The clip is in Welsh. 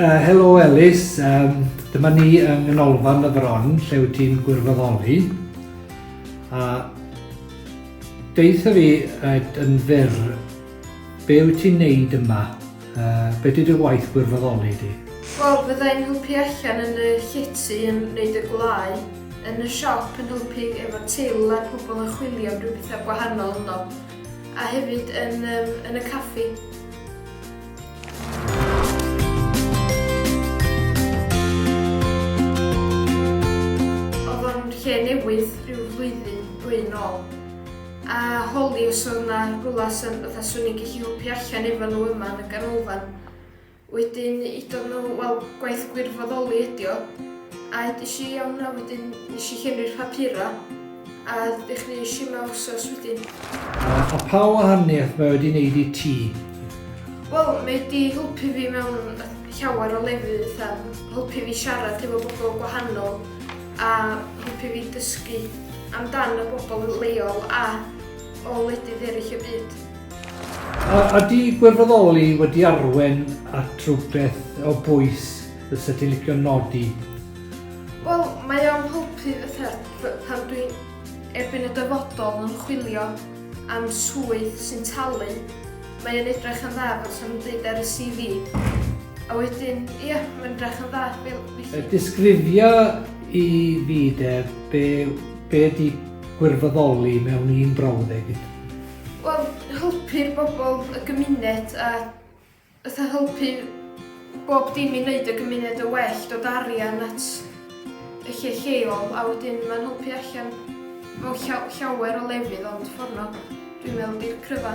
Uh, helo Elis, um, dyma ni yng Nghanolfan y Fron lle wyt ti'n gwirfoddoli. A deitha fi uh, yn fyr, be wyt ti'n neud yma? Yy, be di dy waith gwirfoddoli di? Wel, fydda i'n helpu allan yn y llety yn wneud y gwlâu, yn y siop yn helpu efo til a'r pobl yn chwilio am ryw bethau gwahanol ynddo, a hefyd yn yym yn y caffi. Oedd o'n lle newydd ryw flwyddyn, dwy yn ôl. A Holly os odd 'na rwla sa fatha swn i'n gellu helpu allan efo n'w yma yn y ganolfan. Wedyn udodd n'w wel gwaith gwirfoddoli ydi o a edes i iawn a wedyn nesh i llenwi'r papura a ddechreuesh i yma wsos wedyn. A, a pa wahaniaeth mae wedi neud i ti? Wel mae wedi helpu fi mewn llawer o lefydd fatha helpu fi siarad efo bobl gwahanol a helpu fi dysgu amdan y bobl leol a o wledydd eraill y byd. A ydy gwirfoddoli wedi arwen at rhywbeth o bwys fysa ti'n licio nodi? Wel, mae o'n helpu fatha pan dwi erbyn y dyfodol yn chwilio am swydd sy'n talu Mae yn edrych yn dda fel sa'm byd ar y CV. A wedyn, ia, mae'n edrych yn dda fel felly. Disgrifia i fi de, be, be di gwirfoddoli mewn un brawddeg? Wel, helpu'r bobl, y gymuned a fatha helpu Bob dim i neud y gymuned yn well, dod â arian at y lle lleol a wedyn ma'n helpu allan mewn llaw- llawer o lefydd ond fforno dwi'n meddwl ydi'r cryfa.